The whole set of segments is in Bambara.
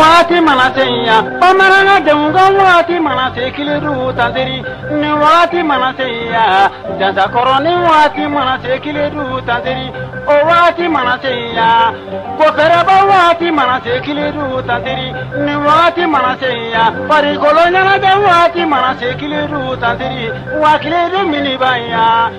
waati mana seya bamanan denw ka waati mana se kelen tan ni waati mana seya jakɔrɔ ni waati mana se kelen tan o waati mana seya ko fɛrɛba waati mana se kelen tan ni waati mana seya farikoloɲɛnajɛ waati mana se kelen tan waati kelen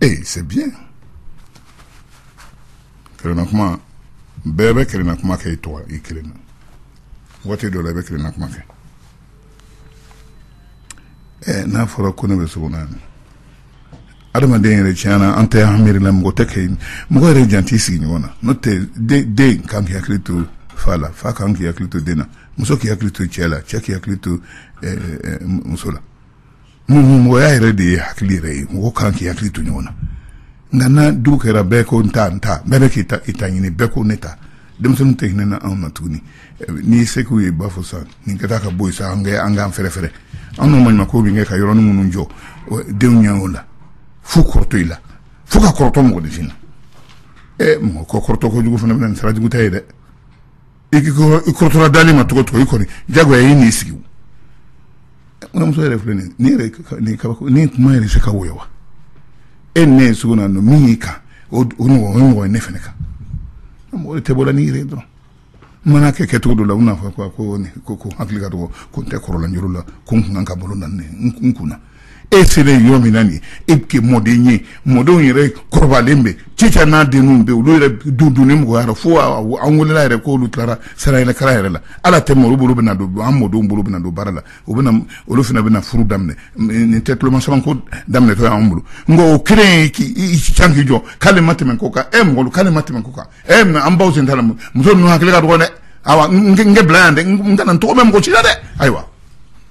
ee c'est bien kelenna kuma bɛɛ bɛ kelenna kuma kɛ i to i kelen na waati dɔ la i bɛ kelenna kuma kɛ ɛɛ n'a fɔra ko ne bɛ sogo na yan adamaden yɛrɛ tiɲɛna an tɛ an miiri la mɔgɔ tɛ kɛ mɔgɔ yɛrɛ jant'i sigiɲɔgɔn na n'o tɛ den kan k'i hakili to fa la fa kan k'i hakili to den na muso k'i hakili to cɛ la cɛ k'i hakili to ɛɛ muso la mɔgɔya yɛrɛ de ye hakili yɛrɛ ye mɔgɔ kan k'i hakili to ɲɔgɔn na nka n'a dun kɛra bɛɛ ko n ta n ta bɛɛ bɛ k'i ta i ta ɲini bɛɛ ko ne ta denmisɛnninw tɛ hinɛ na anw na tuguni n'i se k'u ye u b'a fɔ sa nin ka taa ka bɔ sa an kɛ an k'an fɛrɛ fɛrɛ an n'o maɲuman ko bɛ kɛ ka yɔrɔnin minnu jɔ denw ɲɛ o la fo kɔrɔtɔ i la fo ka kɔrɔtɔ mɔgɔninfin na ɛ mɔgɔ ko kɔrɔtɔ kojugu fana bɛ na ni sira jugu ta ye dɛ i kɔrɔtɔla dalen ma tɔgɔ tɔgɔ i kɔni jago y'i nii sigi muso yɛrɛ filɛ nin ni kuma yɛrɛ se ka woyo wa e ne ye sugu na don min y'i kan o mɔgɔ ne fana kan mɔgɔ tɛ bɔra ni yɛrɛ dɔrɔn mana kɛ kɛ cogo don la u n'a fɔ ko ko ko hakili ka dɔgɔ ko n tɛ kɔrɔlaj la ko n kun ka bolo na n kun na e selen yɔrɔ min na nin e bɛ kɛ mɔden ye mɔdenw yɛrɛ kɔrɔbalen bɛ cica n'a denw bɛ olu yɛrɛ du dunni mɔgɔyara fo an wolola yɛrɛ k'olu tilara sa yɛrɛ kalan yɛrɛ la ala tɛ olu bolo bɛna don an mɔdenw bolo bɛna don baara la u bɛna olu fana bɛna furu daminɛ nin tɛ tulomasamako daminɛtɔ y'an bolo nka o kelen k'i can k'i jɔ k'ale ma tɛmɛ ko kan e mɔgɔ k'ale ma tɛmɛ ko kan e an baw sen t'a la muso ninnu hakili ka dɔgɔn dɛ awa n k'a bila yan dɛ n kana n tɔgɔ mɛn mɔgɔ si la dɛ ayiwa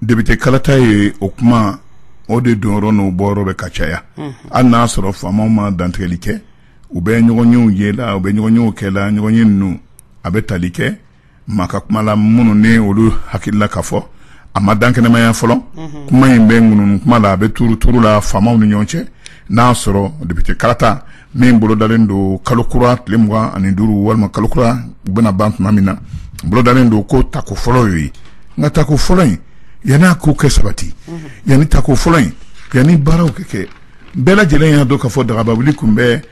depite kalata ye o kuma o de dɔrɔn n'o bɔ bɛ ka caya hali n'a sɔrɔ faamaw ma dantigɛli kɛ u bɛ ɲɔgɔnyew ye la u bɛ ɲɔgɔnyew kɛ la ɲɔgɔnye ninnu a bɛ tali kɛ maa ka kumala minnu ni olu hakilila ka fɔ a ma dankɛnɛmaya fɔlɔ kuma in bɛ ŋunuŋunu kuma la a bɛ tuuru tuuru la faamaw ni ɲɔgɔn cɛ n'a sɔrɔ depite kalata min bolodalen don kalo kura tile mugan ani duuru walima kalo kura bɛna ban tuma min na bolodalen don ko tako fɔlɔ ye nka tako fɔlɔ in yanni a ko ka sabati yanni tako fɔlɔ in yanni baaraw ka kɛ bɛɛ lajɛlen y'a dɔn k'a fɔ dagabawuli tun bɛ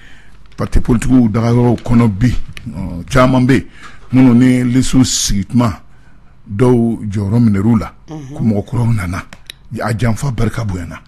pati politikiw dagayɔrɔw kɔnɔ bi ɔ, caman bɛ yen minnu ni lisiw sigi tuma dɔw jɔyɔrɔ minɛr'u la ko mɔgɔ kuraw nana a janfa barika bonyana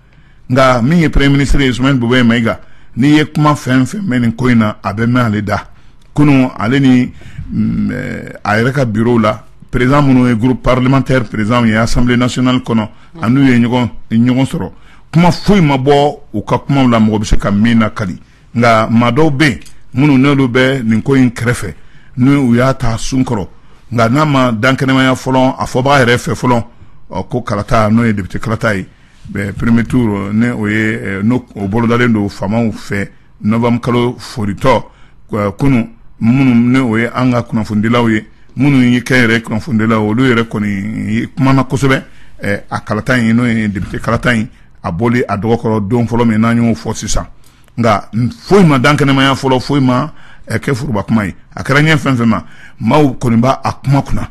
nka min ye premier ministre ye Soumeylou Boubèye Maïga n'i ye kuma fɛn fɛn mɛn nin ko in na a bɛ mɛn ale da kunun ale ni mm, eh, a yɛrɛ ka bureau la président minnu ye groupe parlementaire président ye assemblée nationale kɔnɔ an'u ye ɲɔgɔn ɲɔgɔn sɔrɔ kuma foyi ma bɔ u ka kumaw la mɔgɔ bɛ se ka min lakali nka maa dɔw bɛ yen minnu n'olu bɛ nin ko in kɛrɛfɛ ni u y'a ta sun kɔrɔ nka n'a ma dankɛnɛmaya fɔlɔ a fɔbaga yɛrɛ fɛ fɔlɔ ko kalata n'o ye député kalata ye premier tour n'o ye n'o bolodalen don faamaw fɛ novembre kalo foritɔ kunun minnu n'o ye an ka kunnafonidilaw ye minnu ye kɛnyɛrɛye kunnafonidilaw olu yɛrɛ kɔni kumana kosɛbɛ a kalata in n'o ye député kalata in a bɔli a dɔgɔkɔrɔ don fɔlɔ min n'an y'o fɔ sisan nka foyi ma dankɛnɛmaya fɔlɔ foyi ma kɛ foroba kuma ye a kɛra ɲɛ fɛn fɛn ma maaw kɔni b'a a kuma kunna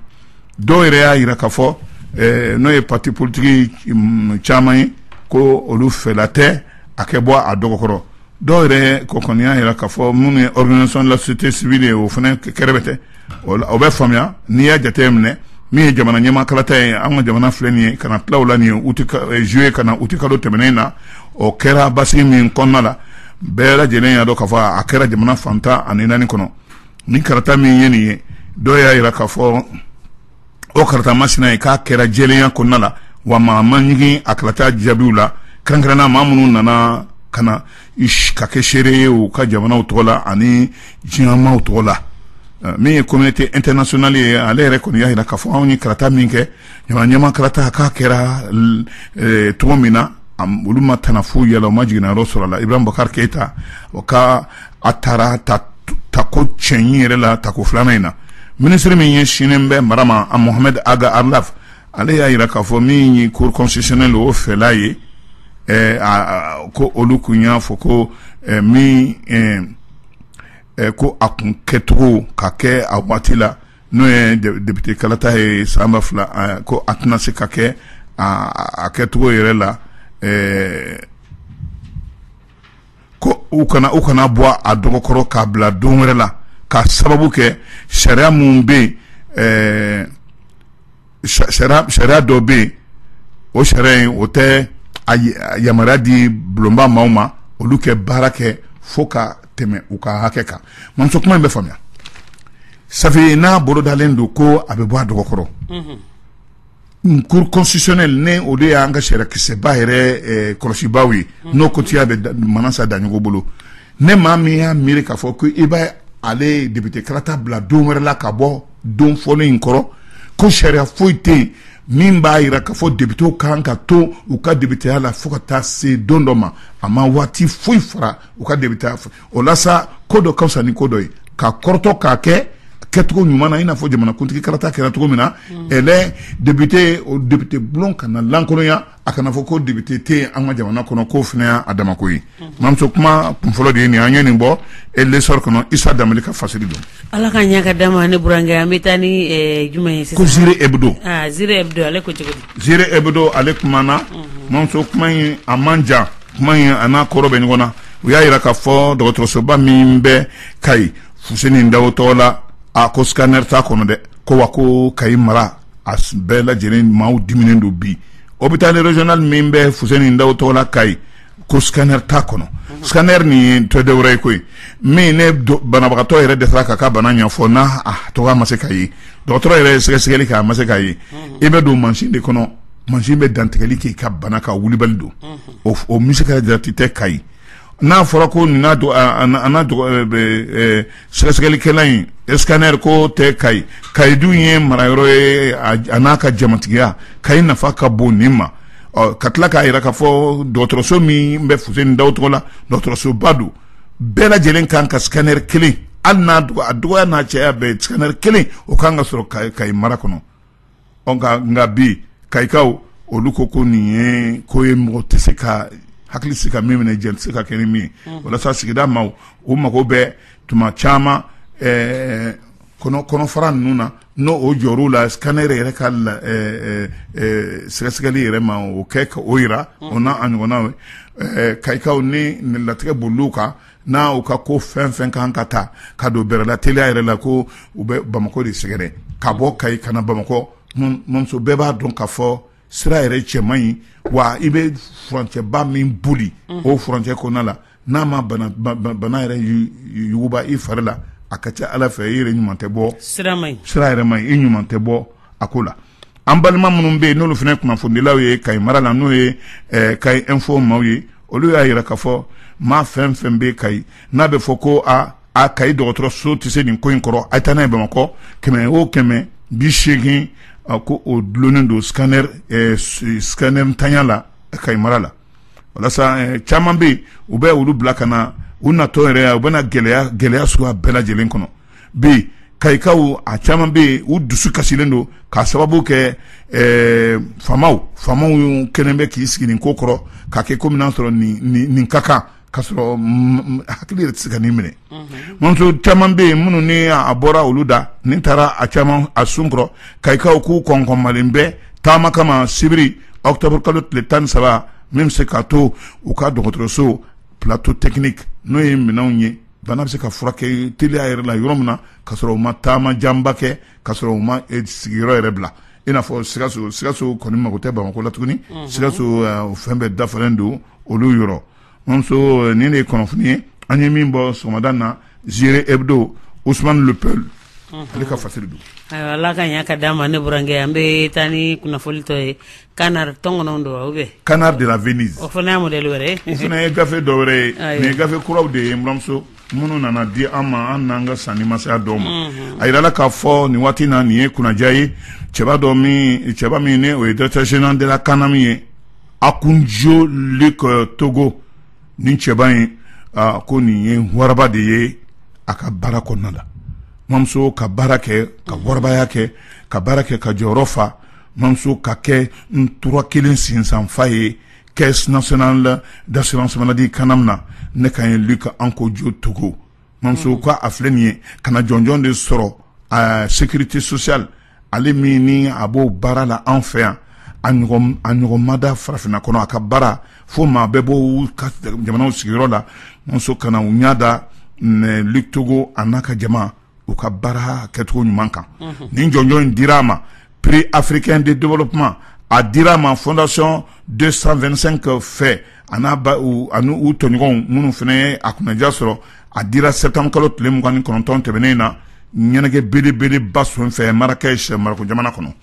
dɔw yɛrɛ y'a jira k'a fɔ n'o ye parti politique caman ye ko olu fɛla tɛ a kɛ bɔ a dɔgɔkɔrɔ dɔw yɛrɛ kɔni y'a jira k'a fɔ minnu ye organisation de la société civile ye o fana kɛrɛfɛ tɛ o bɛ faamuya n'i y'a jate minɛ min ye jamana ɲɛmaa kalata ye an ka jamana filɛ nin ye ka na tila o la nin ye juillet ka na uti kalo tɛmɛnen na o kɛra basigi min kɔnɔna la bɛɛ lajɛlen y'a dɔn k'a fɔ a kɛra jamana fan tan ani naani kɔnɔ ni karata min ye nin ye dɔw y'a jira k'a fɔ o karata masina ye k'a kɛra jɛlenya kɔnɔna la wa maa ma ɲigin a kalata jaabiw la kɛrɛnkɛrɛnna maa minnu nana ka na ka kɛ seere ye u ka jamanaw tɔgɔ la ani diɲɛmaaw tɔgɔ la eh, min ye communauté internationale ye ale yɛrɛ kɔni y'a jira k'a fɔ anw ye karata min kɛ jamana ɲɛmaa karata k'a kɛra eh, cogo min na olu ma tana foyi ye a la u ma jiginnayɔrɔ sɔrɔ a la Ibrahim Boubacar Keita o ka a tara tako cɛɲi yɛrɛ la tako filanan in na ministre min ɲɛsinnen bɛ mara ma Mohamed Ag Erlaf ale y'a jira k'a fɔ min ye cour constitutionnelle o fɛla ye ko olu tun y'a fɔ ko min ko a kun kɛcogo ka kɛ a waati la n'o ye député kalata ye san ba fila ko a tɛna se ka kɛ a kɛcogo yɛrɛ la ko u kana u kana bɔ a dɔgɔkɔrɔ k'a bila don wɛrɛ la ka sababu kɛ sariya minnu bɛ yen ɛɛ sariya sariya dɔ bɛ yen o sariya in o tɛ a yamaruya di bulonba maaw ma olu kɛ baara kɛ fo ka tɛmɛ u ka hakɛ kan mamuso kuma in bɛ faamuya safi n'a bolodalen don ko a bɛ bɔ a dɔgɔkɔrɔ Cour constitutionnelle ni olu de y'an ka sariya kisɛba yɛrɛ kɔlɔsibaaw ye n'o kotiya bɛ manasa daɲɔgɔ bolo ni maa min y'a miiri k'a fɔ ko i bɛ ale depite karata bila don wɛrɛ la ka bɔ don fɔlɔ in kɔrɔ ko sariya foyi tɛ yen min b'a jira k'a fɔ depitew kan ka to u ka depiteya la fo ka taa se don dɔ ma a ma waati foyi fara u ka depiteya fɔ o la sa ko dɔ ka fisa ni ko dɔ ye ka kɔrɔtɔ k'a kɛ kɛcogo ɲuman na i n'a fɔ jamanakuntigi karata kɛra cogo min na mm. ɛlɛ depite o depite bulon kana lankolonya a kana fɔ ko depite tɛ an ka jamana kɔnɔ k'o fana y'a damako ye mm. mamuso kuma kunfɔlɔ de ye nin an ye nin bɔ e l'essor kɔnɔ isa danbele ka fasiri don ala ka ɲɛ ka d'a ma ne burankɛ an bɛ taa ni eh, jumɛn ye sisan ko ziré hebdo ah, ziré hebdo ale ko cogo di ziré hebdo ale kumana mm-hmm. mamuso kuma in a man jan kuma in a n'a kɔrɔ bɛ ɲɔgɔn na u y'a jira k'a fɔ dɔgɔtɔrɔsoba min bɛ kayi fuseni dawo tɔgɔ la a ko scanner t'a kɔnɔ dɛ ko wa ko kayi mara a bɛɛ lajɛlen maaw diminen don bi hôpital régional min bɛ fuseni dawo tɔgɔ la kayi ko scanner t'a kɔnɔ scanner nin tɛ dɔ wɛrɛ ye koyi min ni banabagatɔ yɛrɛ dɛsɛra k'a ka bana ɲɛfɔ n'a tɔgɔ ma se ka ye dɔgɔtɔrɔ yɛrɛ ye sɛgɛsɛgɛli kɛ a ma se ka ye i bɛ don mansin de kɔnɔ mansin bɛ dantigɛli k'i ka bana kan wulibali don o misi ka jate tɛ kayi n'a fɔra ko nin don sɛgɛsɛgɛlikɛlan in scanner k'o tɛ kayi kayi dun ye marayɔrɔ ye a n'a ka jamatigiya kayi nafa ka bon nin ma ka tila k'a jira k'a fɔ dɔgɔtɔrɔso min bɛ fuseni dawo tɔgɔ la dɔgɔtɔrɔsoba don bɛɛ lajɛlen kan ka scanner kelen hali n'a a dɔgɔya n'a cɛya bɛɛ scanner kelen o ka kan ka sɔrɔ kayi mara kɔnɔ nka bi kayikaw olu ko ko nin ye ko ye mɔgɔ tɛ se ka hakili se ka min minɛ jɛn tɛ se ka kɛ ni min ye walasa sigida maaw u mago bɛ tuma caman kɔnɔfara ninnu na n'o jɔr'u la scanner yɛrɛ ka sɛgɛsɛgɛli yɛrɛ ma o kɛ ka o jira o n'a ɲɔgɔnna kayikaw ni latigɛ boli kan n'a u ka ko fɛn fɛn kan ka taa ka don bɛrɛla teliya yɛrɛ la ko u bɛ bamakɔ de sɛgɛrɛ ka bɔ kayi ka na bamakɔ mamuso bɛɛ b'a dɔn k'a fɔ sira yɛrɛ cɛ man ɲi wa i bɛ furancɛba min boli o furancɛ kɔnɔna la n'a ma bana yɛrɛ yuguba i fari la a ka ca ala fɛ i yɛrɛ ɲuman tɛ bɔ sira yɛrɛ ma i ɲuman tɛ bɔ a ko la an balima minnu bɛ yen n'olu fana kunnafonidilaw ye kayi mara la n'o ye eh, kayi info maaw ye olu y'a jira k'a fɔ maa fɛn fɛn bɛ kayi n'a bɛ fɔ ko a kayi dɔgɔtɔrɔso tɛ se nin ko in kɔrɔ a taa n'a ye bamakɔ kɛmɛ o kɛmɛ bi seegin ko o dulonnen don scanner eh, scanner ntanya la kayi mara la walasa eh, caman bɛ yen u bɛ olu bila ka na u natɔ yɛrɛ u bɛ na gɛlɛya gɛlɛya suguya bɛɛ lajɛlen kɔnɔ bi kayikaw a caman bɛ yen u dusu kasilen don k'a sababu kɛ eh, faamaw faamaw kɛlen bɛ k'i sigi nin ko kɔrɔ ka kɛ komi n'a sɔrɔ nin nin nin ka kan ka sɔrɔ mm, mm, hakili yɛrɛ tɛ se ka nin minɛ muso caman bɛ yen minnu ni a bɔra olu da ni taara a caman a sun kɔrɔ kayikaw k'u kɔnkɔnmalen bɛ taama kama sibiri octobre kalo tile tan ni saba min bɛ se k'a to u ka dɔgɔtɔrɔso plateau technique n'o ye minɛnw ye Bana bɛ se ka furakɛ teliya yɛrɛ la yɔrɔ min na ka sɔrɔ u ma taama janba kɛ ka sɔrɔ u ma sigiyɔrɔ yɛrɛ bila i n'a fɔ sikaso sikaso kɔni mago tɛ bamakɔ la tuguni sikaso o fɛn bɛɛ dafalen don olu yɔrɔ mamuso nin de ye kunnafoni ye an ye min bɔ sɔgɔmada na Ziré Hebdo Ousmane le Peul ale ka fasiri don ala ka ɲa ka d'a ma ne burankɛ an bɛ taa ni kunnafoni tɔ ye Canard tɔnkɔnɔ don ou bien Canard de la Venise o fana ye modèle wɛrɛ ye, o fana ye gafe dɔ wɛrɛ ye, ayiwa, nin ye gafe kuraw de ye n buranmuso minnu nana di an ma an n'an ka sanni ma se a dɔw ma, unhun, a jirala k'a fɔ nin waati in na nin ye kunnaja ye cɛba dɔ min cɛba min ni o ye directeur général de la CANAM ye Ankoundio Luc Togo nin cɛba in aa ko nin ye waraba de ye a ka baara kɔnɔna na mamuso ka baara kɛ ka warabaya kɛ ka baara kɛ ka jɔyɔrɔ fa mamuso ka kɛ ntura kelen sinsanfa ye caisse nationale d'assurance maladie CANAM na ne ka ye Luc Ankoundio Togo mamuso k'a filɛ nin ye kanna jɔnjɔn de sɔrɔ sécurité sociale ale min ni a b'o baara la an fɛ yan a ɲɔgɔn ma da farafinna kɔnɔ a ka baara fo maa bɛ bɔ jamana sigiyɔrɔ la mamuso ka na u ɲa da Luc Togo a n'a ka jama u ka baara kɛcogo ɲuman kan nin jɔnjɔn in dira a ma prix africain de développement a dira a ma fondation deux cent vingt-cinq fɛ a n'a ani u tɔɲɔgɔnw minnu fana ye a kunnaja sɔrɔ a dira septembre kalo tile mugan ni kɔnɔntɔn tɛmɛnen in na ɲɛnajɛkɛnɛ belebeleba sen fɛ Marrakech Maroko jamana kɔnɔ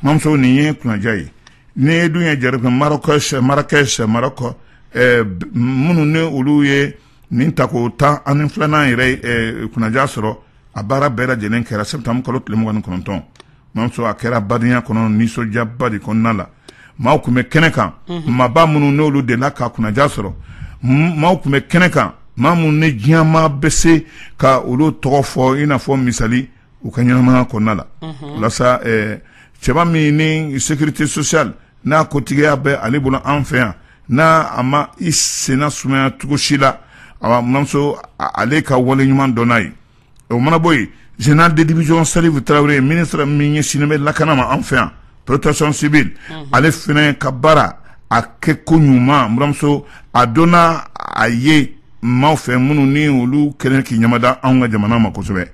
mamuso nin ye kunnaja ye ni ye dun ye jara Marrakech Marrakech Maroko minnu ni olu ye nin tako tan ani filanan yɛrɛ eh, kunnaja sɔrɔ a baara bɛɛ lajɛlen kɛra septembre kalo tile mugan ni kɔnɔntɔn mamuso a kɛra badenya kɔnɔ nisɔndiyaba de kɔnɔna la maaw tun bɛ kɛnɛ kan mhm. maaba minnu n'olu delila ka kunnaja sɔrɔ maaw tun bɛ kɛnɛ kan maa minnu ni diɲɛmaa bɛ se ka olu tɔgɔ fɔ i n'a fɔ misali u ka ɲɛnamaya kɔnɔna la mhm. walasa eh, cɛba min ni sécurité sociale n'a ko tigiya bɛ ale bolo an fɛ yan n'a a ma i senna sumaya cogo si la a buramuso ale ka wale ɲuman dɔnna a ye o mana bɔ yen général de division Salif Traoré ministre min ɲɛsinnen bɛ lakana ma an fɛ yan protection civile ale fana ka baara a kɛko ɲuman buramuso a dɔnna a ye maaw fɛ minnu ni olu kɛlen k'i ɲamada an ka jamana ma kosɛbɛ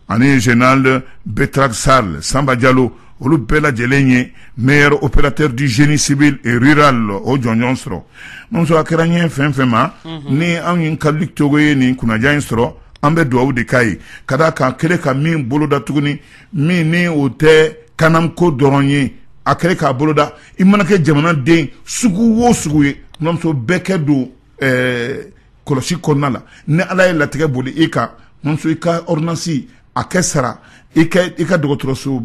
ani général BETRAP SARL Samba Diallo olu bɛɛ lajɛlen ye meilleur opérateur du génie civil et rural o jɔnjɔn sɔrɔ buramuso a kɛra ɲɛ fɛn fɛn ma ni anw ye ka Luc Togo ye nin kunnaja in sɔrɔ an bɛ dugawu de k'a ye ka d'a kan a kɛlen ka min boloda tuguni min ni o tɛ CANAM ko dɔrɔn ye a kɛlen k'a boloda i mana kɛ jamanaden sugu wo sugu ye buramuso bɛɛ kɛ don ɛɛ kɔlɔsi kɔnɔna la ni ala ye latigɛ boli i kan buramuso i ka ordonnance a kɛ sara i ka dɔgɔtɔrɔso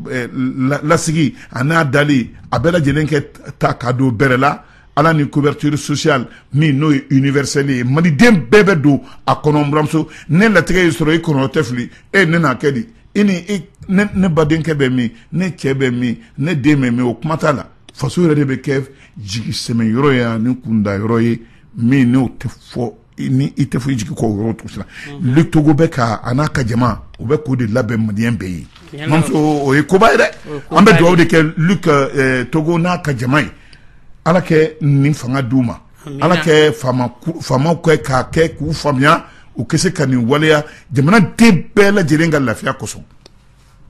lasigi a n'a dali a bɛɛ lajɛlen kɛ ta ka don bɛrɛ la ala ni couverture sociale min n'o ye universelle ye maliden bɛɛ bɛ don a kɔnɔ buramuso ne latigɛ y'i sɔrɔ i kɔnɔ tɛ fili e ne n'a kɛ di i ni ne badenkɛ bɛ min ne cɛ bɛ min ne den bɛ min o kuma t'a la faso yɛrɛ de bɛ kɛ jigisɛmɛ yɔrɔ ye ani kunda yɔrɔ ye min n'o tɛ fɔ ni i tɛ fɔ i jigin kɔ yɔrɔ tugu sa Luc Togo bɛ ka a n'a ka jama u bɛ k'o de labɛn maliden bɛɛ ye buramuso o ye koba ye dɛ an bɛ dugawu de kɛ Luc Togo n'a ka jama ye ala kɛ nin fanga d'u ma ala kɛ faamaw kɛ k'a kɛ k'u faamuya u kɛ se ka nin waleya jamanaden bɛɛ lajɛlen ka lafiya kosɔn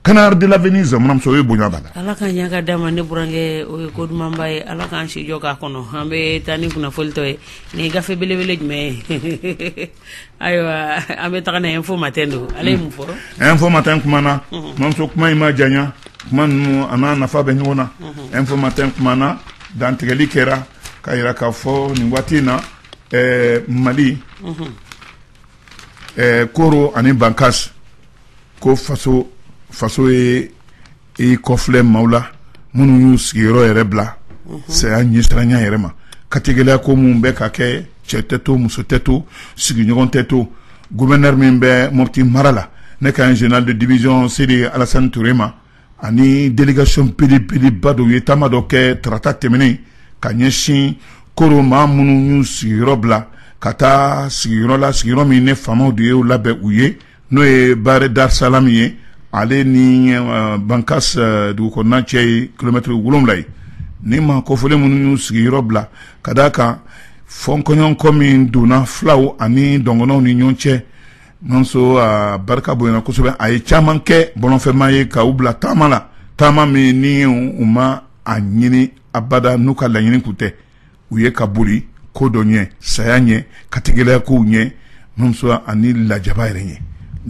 Canard de la Venise buramuso o ye bonya b'a la ala ka ɲa ka d'a ma ne burankɛ o ye ko dumanba ye ala k'an si jɔ k'a kɔnɔ an bɛ taa ni kunnafoli tɔ ye nin gafe belebele jumɛn ye ayiwa an bɛ taga na info matin don ale ye mun fɔ info matin kumana buramuso kuma in ma janya kuma ninnu a n'a nafa bɛ ɲɔgɔn na info matin kumana dantigɛli kɛra ka yira k'a fɔ nin waati in na mali koro ani bankas ko faso ye i kɔfilɛ maaw la minnu y'u sigiyɔrɔ yɛrɛ bila saya ɲɛsiranya yɛrɛ ma katigɛlɛya ko minnu bɛ ka kɛ cɛ tɛ to muso tɛ to sigiɲɔgɔn tɛ to gouverneur min bɛ moti mara la ne kan général de division Sidi Alassane Touré ma ani délégation belebeleba dɔ u ye taama dɔ kɛ tarata tɛmɛnen ka ɲɛsin koro maa minnu y'u sigiyɔrɔ bila ka taa sigiyɔrɔ la sigiyɔrɔ min ne faamaw de ye labɛn u ye n'o ye Bare Darisalamu ye ale ni bankas dugukɔnɔna cɛ ye kilomɛtiri wolonwula ye ni maa kofɔlen minnu y'u sigi yɔrɔ bila ka d'a kan fɔkɔɲɔgɔnkɔ min donna fulaw ani dɔngɔnɔw ni ɲɔgɔn cɛ mamuso barika bonyana kosɛbɛ a ye caman kɛ bɔlɔnfɛmaa ye ka u bila taama la taama min ni u ma a ɲini abada n'u ka laɲini kun tɛ u ye ka boli ko dɔ ɲɛ saya ɲɛ katigɛlɛya kow ɲɛ mamuso ani lajaba yɛrɛ ɲɛ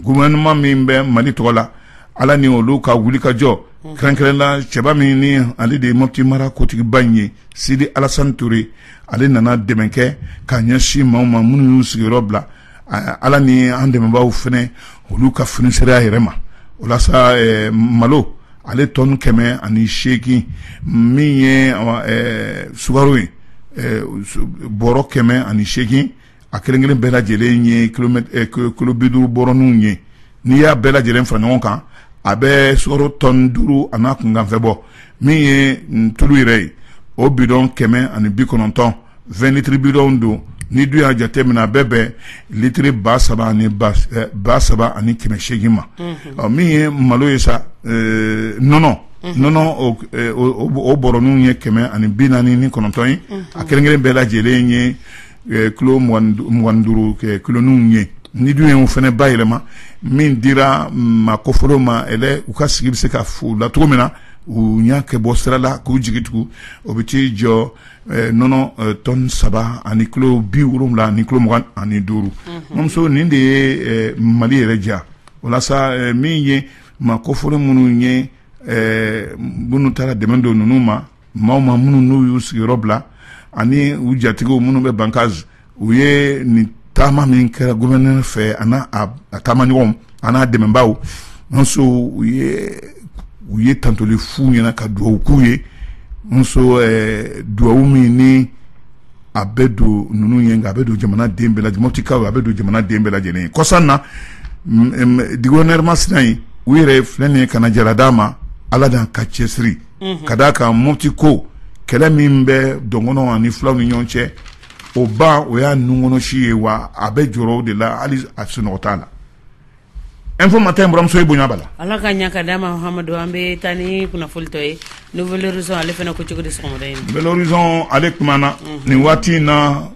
gouvernement min bɛ Mali tɔgɔ la Ala ni olu ka wulikajɔ kɛrɛnkɛrɛn na cɛba min ni ale de ye Mopti mara kotigiba in ye Sidi Alasani Ture ale nana dɛmɛ kɛ ka ɲɛsin maaw ma minnu y'u sigiyɔrɔ bila ala ni an dɛmɛbaw fɛnɛ olu ka finisereya yɛrɛ ma o la sa malo ale tɔni kɛmɛ ani seegin min ye sukaro ye bɔrɔ kɛmɛ ani seegin a kelenkelen bɛɛ lajɛlen ye kilo biduuru bɔrɔninw ye n'i y'a bɛɛ lajɛlen fara ɲɔgɔn kan a bɛ sukaro tɔni duuru a n'a kunkanfɛn bɔ min ye tulu yɛrɛ ye o bidɔn kɛmɛ ani bi kɔnɔntɔn vingt litres bidɔn don n'i dun y'a jate mina a bɛ bɛn litiri ba saba ani ba saba ani kɛmɛ seegin ma ɔ min ye malo ye sa nɔnɔ nɔnɔ o bɔrɔninw ye kɛmɛ ani bi naani ni kɔnɔntɔn ye a kelenkelen bɛɛ lajɛlen ye kilo mugan ni duuru kiloninw ye n'i dun y'o fɛnɛ bayɛlɛma min dira maa kofɔlenw ma u ka sigi bɛ se ka la cogo min na u y'a kɛ bɔ sira la k'u jigi tugu o bɛ t'i jɔ nɔnɔ tɔni saba ani kilo bi wolonwula ani kilo mugan ani duuru muso nin de ye mali yɛrɛ diya o la sa min ye maa kofɔlen minnu ye minnu taara dɛmɛ don ninnu ma maaw ma minnu n'u y'u sigiyɔrɔ bila ani u jatigiw minnu bɛ bankas u ye nin taama min kɛra gouverneur fɛ a taama ɲɔgɔn a n'a dɛmɛbaw muso u ye u ye tantoli f'u ɲɛna ka dugawu k'u ye muso eh, dugawu min ni a bɛ don ninnu ye nka a bɛ don jamana den bɛɛ lajɛlen motikaw a bɛ don jamana den bɛɛ lajɛlen ye kɔsan na gouverneur masina yen u yɛrɛ filɛ nin ye kana jara d'a ma ala n'a ka cɛsiri ka da kan moti ko kɛlɛ min bɛ dɔngɔnɔ ani fulaw ni ɲɔgɔn cɛ o ban o y'a nunkɔnɔsi ye wa a bɛ jɔrɔ o de la hali a sunɔgɔ t'a la Info Matin muso i bonya b'a la ala ka ɲa ka d'a ma amadu an bɛ taa ni kunnafoni tɔ ye Nouvel Horizon ale fana ko cogo di sɔgɔmada in Nouvel Horizon ale kumana nin waati in na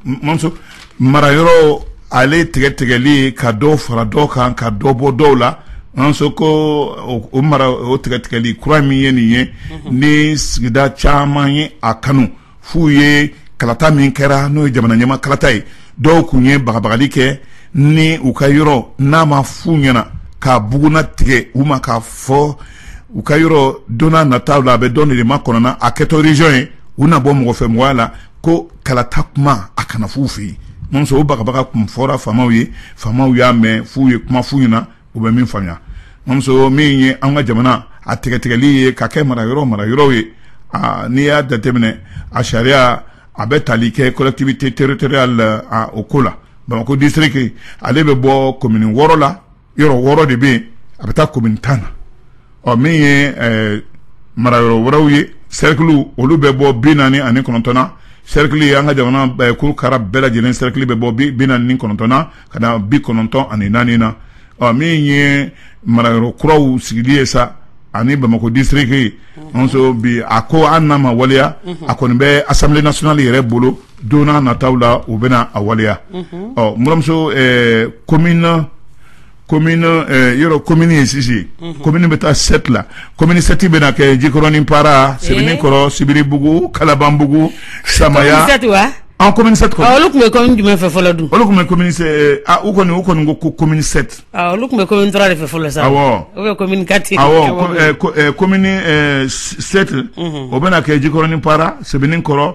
marayɔrɔ ale tigɛtigɛli ka dɔ fara dɔ kan ka dɔ bɔ dɔw la an sɔn ko o mara o tigɛtigɛli kura min ye nin ye ni sigida caman ye a kanu f'u ye kalata min kɛra n'o ye jamana ɲɛmaa kalata ye dɔw kun ye bagabagali kɛ ni u ka yɔrɔ n'a ma f'u ɲɛna k'a bugunatigɛ u ma k'a fɔ u ka yɔrɔ donna nataw la a bɛ don de makɔnɔ na a kɛtɔ region ye u na bɔ mɔgɔ fɛ mɔgɔya la ko kalata kuma a kana f'u fɛ yen muso o bagabaga kun fɔra faamaw ye faamaw y'a mɛn f'u ye kuma f'u ɲɛna u bɛ min faamuya muso min ye an ka jamana a tigɛtigɛli ye ka kɛ marayɔrɔ marayɔrɔ ye n'i y'a jateminɛ a sariya a bɛ tali kɛ collectivité territoriale la o ko la bamakɔ district ale bɛ bɔ commune wɔɔrɔ la yɔrɔ wɔɔrɔ de bɛ yen a bɛ taa commune tan na ɔ min ye eh, marayɔrɔ wɛrɛw ye sɛrikiliw olu bɛ bɔ bi naani ani kɔnɔntɔn na sɛrikili an ka jamana eh, kurukara bɛɛ lajɛlen sɛrikili bɛ bɔ bi bi naani ni kɔnɔntɔn na ka na bi kɔnɔntɔn ani naani na ɔ min ye marayɔrɔ kuraw sigili ye sa ani bamakɔ district nso bi a ko an n'a ma waleya a kɔni bɛ assemblée nationale yɛrɛ bolo don nata la u bɛna a waleya ɔ bmuso ko na ko yɔrɔ ko mini ye sisi ko mini bɛ taa sɛtila ko minisɛti bɛna kɛ jikɔrɔnin para sɛbɛn kɔrɔ sibiribugu kalabanbugu samaya an kɔmim olu tun bɛ jumɛn fɛ fɔlɔ dun olu tun bɛ kɔmi u kɔni u kɔni ko ko kɔmimini olu tun bɛ kɔmi dɔrɔn de fɛ fɔlɔ sa kɔmimti kɔmim sɛti o bɛna kɛ jikɔrɔnin para sɛbɛn kɔrɔ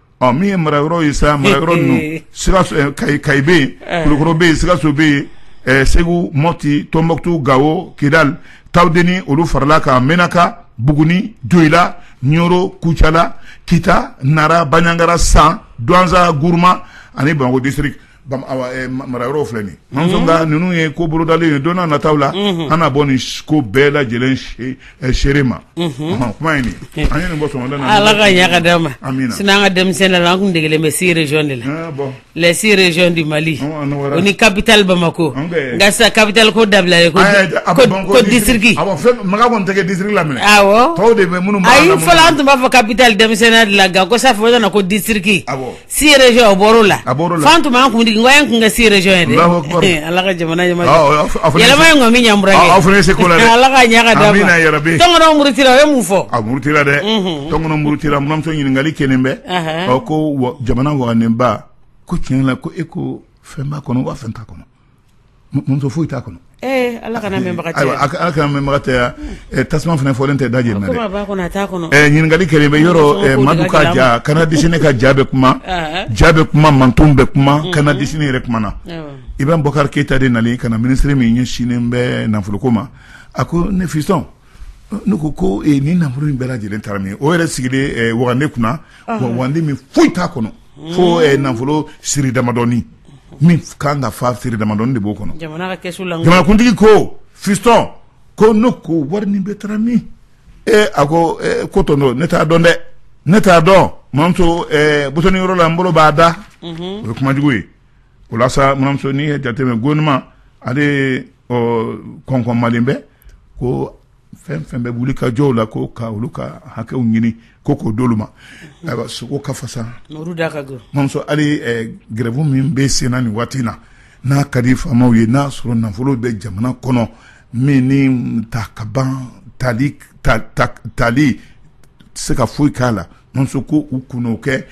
ɔ min ye marayɔrɔ ye sa marayɔrɔ ninnu sikaso ɛ kayi kayi bɛ yen Ɛɛ. kulukɔrɔ bɛ yen sikaso bɛ yen ɛɛ segu mɔti tɔnbɔkutu gawo kidali tawudeni olu farala kan menaka buguni joyila ɲoro kucala kita nara baɲangara san duwanza guruma ani bamakɔ district marayɔrɔ filɛ nin ninnu ye ko bolodalen ye don nataw la an na bɔ nin ko bɛɛ lajɛlen seere ma kuma ala k'a ɲa k'a d'an ma sinon an ka denmisɛnnin la an kun degelen bɛ six régions de la les six régions du mali o ni capitale bamakɔ nka sisan capitale ko dabila ko district makan tɛ district la aw de minnu a fɔlɔ an tun b'a fɔ capitale denmisɛnninya de la nka ko sa fɔ ko district six régions o bɔr'o la a fan tun b'an kun digi in tun ka six régions ye dɛ ala ka jamana yɛlɛma in kɔni min ɲɛ aw fana se ala k'a ɲa k'a d'an ma tɔngɔnɔ murutira o ye mun fɔ a murutira dɛ tɔngɔnɔ murutira muramuso ɲininkali kɛlen bɛ ko jamana waganenba ko tiɲɛ la ko e ko fɛnba kɔnɔ waa fɛn ta kɔnɔ muso foyi t'a kɔnɔ ala kan mɛnbaga tɛ tasuma fana fɔlen tɛ da jeni dɛ ɲininkali kɛlen bɛ yɔrɔ madu ka ja canard déchaîné ka ja bɛ kuma ja bɛ kuma man bɛ kuma canard déchaîné yɛrɛ kuma na ibrahim bɔkari keyita de nana ka na minisiri min ɲɛsinnen bɛ nafoloko ma a ko ne fiston ne ko ko nin nafolo in bɛɛ lajɛlen taara min o yɛrɛ sigilen wagande kunna wagande min foyi t'a kɔnɔ fo nafolo siri damadɔni min ka kan ka fa siri damadɔni de b'o kɔnɔ jamanakuntigi ko fiston ko n ko wari nin bɛɛ taara min ee a ko ko tonton ne t'a dɔn dɛ ne t'a dɔn n buranmuso butɔni yɔrɔ la n bolo b'a da o ye kumajugu ye o la sa n buranmuso n'i y'a jateminɛ gouvernement ale kɔnkɔnmalen bɛ ko fɛn fɛn bɛ wuli ka jɔw la ko ka olu ka hakɛw ɲini ko k'o d'olu ma ayiwa sogo ka fasa mamuso hali gɛrɛbu min bɛ sen na nin waati in na n'a ka di faamaw ye n'a sɔrɔ nafolo bɛ jamana kɔnɔ min ni ta ka ban tali tɛ se ka foyi k'a la muso ko u kun'o kɛ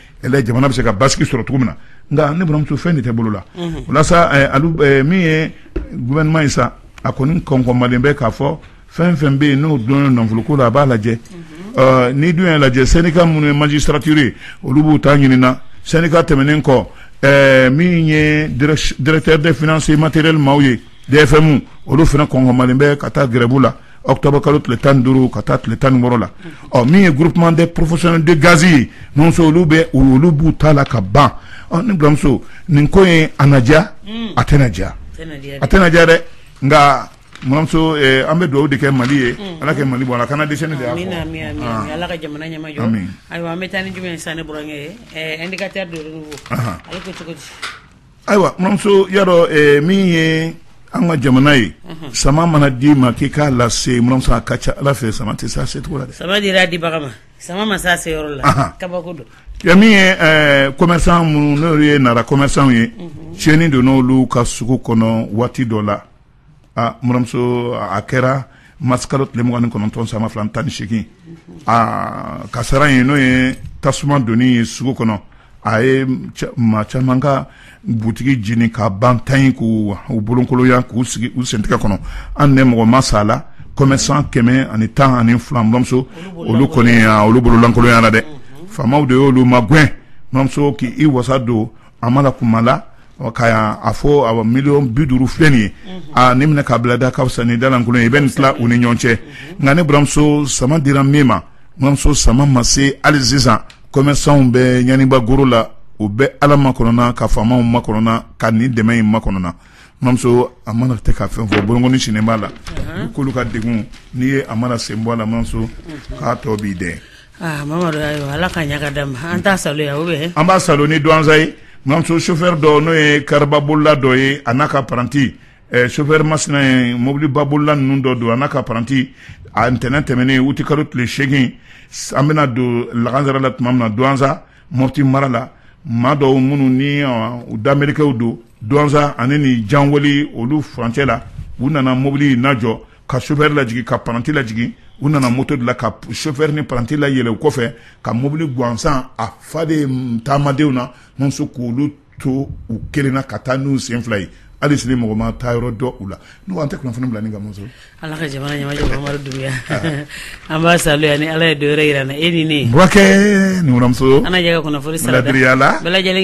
jamana bɛ se ka basigi sɔrɔ cogo min na nka ne buranmuso fɛn de tɛ bolo la o la sa min ye gouvernement ye sa a kɔni kɔnkɔnmalen bɛ k'a fɔ fɛn fɛn bɛ yen n'o don nafoloko la a b'a lajɛ n'i dun y'a lajɛ syndicat minnu ye magistrature ye olu b'u ta ɲini na syndicat tɛmɛnen kɔ min ye directeur des finances matériel maaw ye dfm olu fana kɔnkɔnmalen bɛ ka taa gɛrɛbu la octobre kalo tile tan ni duuru ka taa tile tan ni wɔɔrɔ la ɔ min ye groupement des professionnels de gaz ye muso olu bɛ olu b'u ta la ka ban n buranmuso nin ko ye a na diya a tɛna diya a tɛna diya dɛ nka buranmuso an bɛ dugawu de kɛ mali ye ala kɛ mali bɔ ala kana dɛsɛ de ala ka jamana ɲɛmajɔ ayiwa an bɛ taa ni jumɛn ye sisan n burankɛ indicateur du renouveau ale ko cogo di ayiwa n buranmuso y'a dɔn min ye an ka jamana ye sama mana d'i ma k'i k'a lase n buranmuso a ka ca ala fɛ sama tɛ se a secogo la dɛ sama dira dibaga ma sama ma se a seyɔrɔ la kabako don min ye commerçant minnu n'olu ye nara commerçantw ye tiɲɛni donn'olu ka sugu kɔnɔ waati dɔ la aa n balimamuso a kɛra mars kalo tile mugan ni kɔnɔntɔn san ba fila ani tan ni seegin aa kasara in n'o ye tasuma donni ye sugu kɔnɔ a ye maa caman ka butigi jeni ka ban tan ye k'u bolonkoloya k'u sigi u sentɛgɛ kɔnɔ hali ni mɔgɔ ma sa a la commerçant kɛmɛ ani tan ani fila n balimamuso olu kɔni olu bolo lankolonyala dɛ faamaw de y'olu magɛn n balimamuso k'i wasa don A mana kuma la ka yan a fɔ a miliyɔn bi duuru filɛ nin ye aaa nin minɛ k'a bila da ka fisa ni dalankolon ye i bɛ nin tila u ni ɲɔgɔn cɛ nka ne baramuso sama dira min ma mamuso sama ma se hali sisan kɔmɛsanw bɛ ɲaniba goro la u bɛ ala makɔnɔna ka faamaw makɔnɔna ka nin dɛmɛ in makɔnɔna mamuso a mana tɛ ka fɛn fɔ bɔk sen b'a la k'olu ka denw n'i ye a mana sen bɔ a la mamuso k'a tɔ b'i dɛ Aa Mamadu ayiwa Ala ka ɲa ka d'a ma an t'a salo yan ou bien an b'a salo ni duwanza ye Mamuso chauffeur dɔ n'o ye kariba bolila dɔ ye a n'a ka paranti ɛ chauffeur masina ye mobiliba bolila ninnu dɔ don a n'a ka paranti a ntɛnɛn tɛmɛnen utikalo tile seegin an bɛna don lagansara la tuma min na duwanza Mɔti mara la maa dɔw minnu ni ɔ u damerikew don duwanza ani nin janwoli olu furancɛ la u nana mobili in lajɔ ka sofɛri lajigi ka paranti lajigi u nana moto de la ka sofɛri ni paranti layɛlɛ u kɔfɛ ka mobili gansan a fa de taamadenw na muso k'olu to u kelen na ka taa n'u sen fila ye hali sini mɔgɔ ma taayɔrɔ dɔn u la n'u an tɛ kunnafoni bila ni ka muso ala ka jamana dunya an b'a salo yan ni ala ye don wɛrɛ jira an na e ni ne bkɛmuso an kunnafoni saraduya la bɛɛ lajɛlen